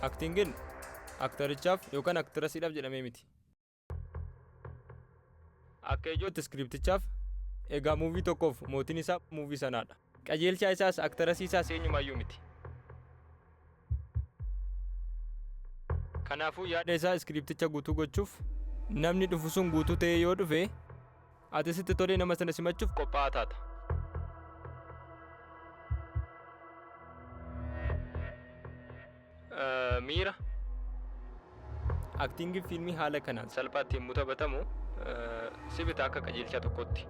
Aktiingin aktarichaaf yookaan aktirasiidhaaf jedhamee miti. Akka ijootti iskiriptichaaf egaa muuvii tokkoof mootiin isaa muuvii sanaadha. Qajeelchaa isaas aktarasii isaas eenyumaayyuu miti. Kanaafuu yaada isaa iskiripticha guutuu gochuuf namni dhufu sun guutuu ta'ee yoo dhufe Ati sitti tolee nama sana simachuuf qophaa'aa taata. Eh, Miira Aktiingiin fiilmii haala kanaan salphaatti yommuu taphatamu eh, si bita akka qajeelchaa tokkotti.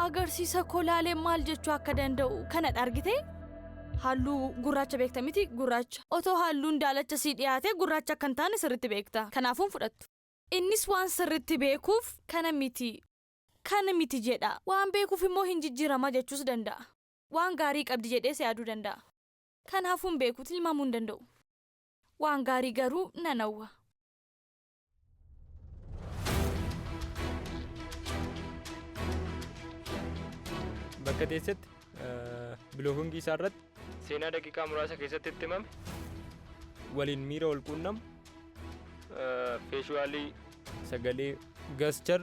Agarsiisa koo laalee maal jechuu akka danda'u kana argitee? Halluu gurraacha beekta miti gurraacha. Otoo halluun daalacha sii dhiyaate gurraacha akka hin taane sirriitti beekta. Kanaafuu hin fudhattu. Innis waan sirritti beekuuf kana miti, kana miti jedha. Waan beekuuf immoo hin jijjirama jechuus danda'a. Waan gaarii qabdi jedhees yaaduu danda'a. Kan hafu hin beeku, tilmaamuu hin danda'u. Waan gaarii garuu nan hawwa. Bakka teessetti biloogingii isaa irratti seenaa daqiiqaa muraasa keessatti itti himame waliin miira wal quunnamu feeshuwaalii sagalee gaschar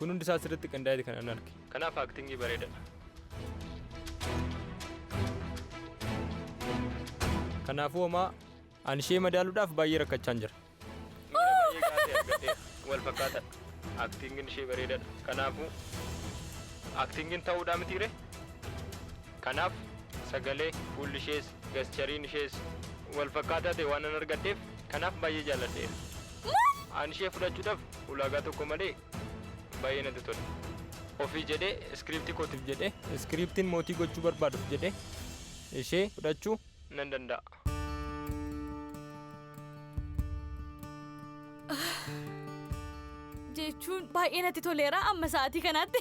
kun hundi isaa asirratti qindaa'eeti kan an arge. Kanaaf aktingii bareedadha. Kanaafuu homaa an ishee madaaluudhaaf baay'ee rakkachaan jira. Miira baay'ee gaafii argadheera. Wal fakkaatadha. Aktiingin ishee bareedadha. Kanaafuu aktiingin ta'uudhaa mitiire? Kanaaf sagalee, fuulli ishees, gaschariin ishees wal fakkaataa ta'e waanan argadheef kanaaf baay'ee jaalladheera. An ishee fudhachuudhaaf ulaagaa tokko malee baay'ee natti tola. Ofii jedhee iskiriiptii kootiif jedhee iskiriiptiin mootii gochuu barbaaduuf jedhee ishee fudhachuu nan danda'a. jechuun baay'ee natti toleera amma sa'aatii kanaatti.